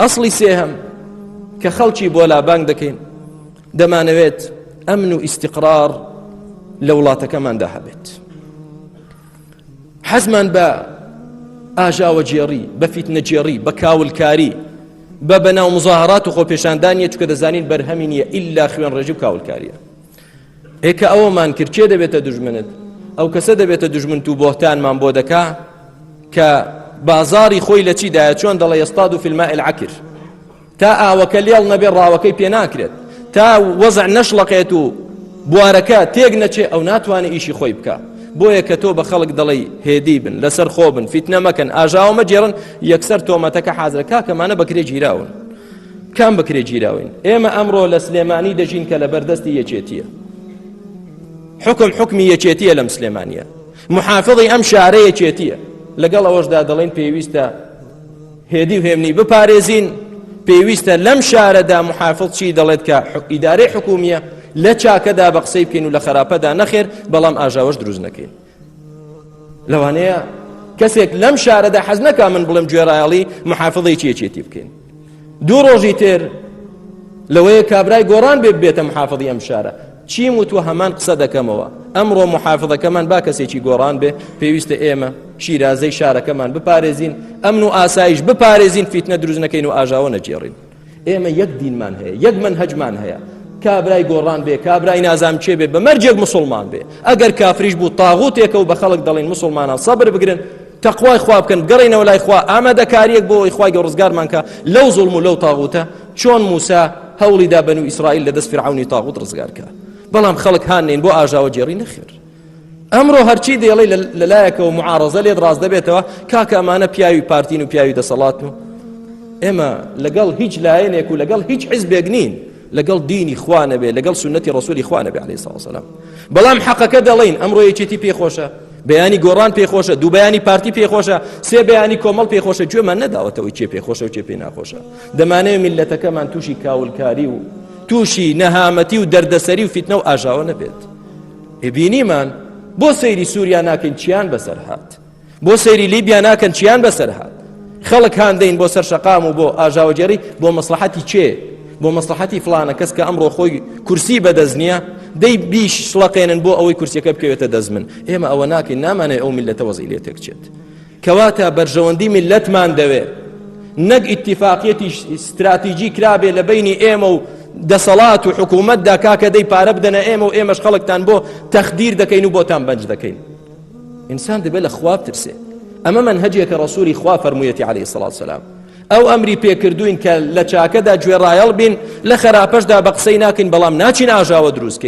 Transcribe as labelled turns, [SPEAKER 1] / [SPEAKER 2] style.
[SPEAKER 1] ئەسڵی سێهەم کە خەڵکی بۆ لابانگ دەکەین دەمانەوێت ئەمن و ئیسیقرار لە وڵاتەکەماندا هەبێت حەزمان بە ئاژاوە جێڕی بە فیتنە جێڕی بە کاولکاری بە بەناو مزاهرات و خۆپێشاندانە چکە دەزانین بەرهەمی نیە ئللا خوێن ڕێژی و کاولکاریە ئێ کە ئەوەمان کرد کێ دەبێتە دوژمنت ئەو کەسە دەبێتە دوژمنت و بۆهتانمان بۆ دەکا کە بازاری خۆی لە چیدایە چۆن دەڵێ ئێستاد و فیلمە ئەلعکر تا ئاوەکە لێڵ نەبێ ڕاوەکەی پێ ناکرێت تا وەزع نەشڵەقێت و بوارەکە تێک نەچێ ئەو ناتوانێت ئیشی خۆی بکە بۆیە کە تۆ بە خەڵک دەڵی هێدی بن لەسەر خۆ بن فیتنە مەکەن ئاژاوە مەجێڕن یەکسەر تۆمەتەکە حازرەکە کەمانە بەکرێ گیراون کام بکرێ گیراوین ئێمە ئەمڕۆ لە سلێمانی دەژین کە لە بەردەستی یەکێتیە حکم حکمی یەکێتیە لەم سلێمانە محافظی ئەم شارە یەکێتیە لەگەڵ ئەوەشدا دەڵێن پێویستە هێدی و هێمنی بپارێزین پێویستە لەم شارەدا محافظ چی دەڵێت کە ئیدارەی حکومیە لە چاکەدا بە قسەی بکەین و لە خراپەدا نەخێر بەڵام ئاژاوەش دروست نەکەین لەوانەیە کەسێک لەم شارەدا حەز نەکا من بڵێم گوێرایەڵی محافظی چێچێتی بکەین دوو ڕۆژی تر لەوەیە کابرای گۆڕان بێت بێتە محافظی ئەم شارە چیم و تۆ هەمان قسە دەکەمەوە ئەمڕۆ محافظەکەمان با کەسێکی گۆڕان بێ پێویستە ئێمە شیرازەی شارەکەمان بپارێزین ئەمن و ئاسایش بپارێزین فیتنە دروست نەکەین و ئاژاوە نەجێڕین ئێمە یەک دینمان هەیە یەک منهجمان هەیە کابرای گۆڕان بێ کابرای نازام چێ بێ بە مەرجێک مسلمان بێ ئەگەر کافریش بوو تاغوتێکە و بە خەڵک دەڵێن مسلمانان سەبر بگرن تەخوای خوا بکەن گەڕێنەوە لای خوا ئامادەکاریەک بۆ ئەوی خوای گە ڕزگارمانکە لەو زڵم و لەو تاغوتە چۆن موسا هەوڵیدا بن و ئیسرائیل لە دەست فرعونی تاغوت ڕزگارکە بەڵام خەڵک هاانین بۆ ئاژاوە جێڕی نەخێر ئەمڕۆ هەرچی دێڵی لەلایەکەوە معارزە لێت ڕاست دەبێتەوە کاکە ئەمانە پیاوی پارتین و پیاوی دەسەڵات و ئێمە لەگەڵ هیچ لایەنێک و لەگەڵ هیچ حزبێک نین لەگەڵ دینی خوانە بێ لەگەڵ سنەتی ڕسووری خوانە بێ عليه ساوسلام بەڵام حەقەکە دەڵین ئەمڕۆ یەکێتی پێخۆشە بەیانی گۆڕان پێخۆشە دوو بەیانی پارتی پێخۆشە سێ بەیانی کۆمەڵ پێخۆشە گوێمان نەداوەتەوەی چێ پێخۆشە و چێ پێ ناخۆشە دەمانەیە میلەتەکەمان تووشی کاولکاری و تووشی نەهامەتی و دەردەسەری و فیتنە و ئاژاوە نەبێت بینیمان بۆ سەیری سووریا ناکەین چیان بەسەر هات بۆ سەیری لیبیا ناکەن چیان بەسەر هات خەڵک هاندەین بۆ سەر شەقام و بۆ ئاژاوەجێری بۆ مەسلحەتی چێ بۆ مەسلحەتی فلانە کەس کە ئەمڕۆ خۆی کورسی بەدەست نییە دەی بیش شڵەقێنن بۆ ئەوەی کورسەکە بکەوێتە دەست من ئێمە ئەوە ناکەین نامانێ ئەو میلەتە وەزی لێ تێکچێت کەواتە بەرژەوەندی میللەتمان دەوێ نەک ئیتیفاقیەتی ستراتیجی کرابێ لە بینی ئێمە و دەسەڵات و حکوومەتدا کاکە دەی پارە بدەنە ئێمە و ئێمەش خەڵکتان بۆ تەخدیر دەکەین و بۆتان بەنج دەکەین ئینسان دەبێت لە خواب ترسێ ئەمە من هەجێکە ڕسووری خوا فەرموویەتی عليه سلاات سلام ئەو ئەمری پێکردوین کە لە چاکەدا گوێڕایەڵ بین لە خراپەشدا بە قسەی ناکەین بەڵام ناچین ئاژاوە دروستکەین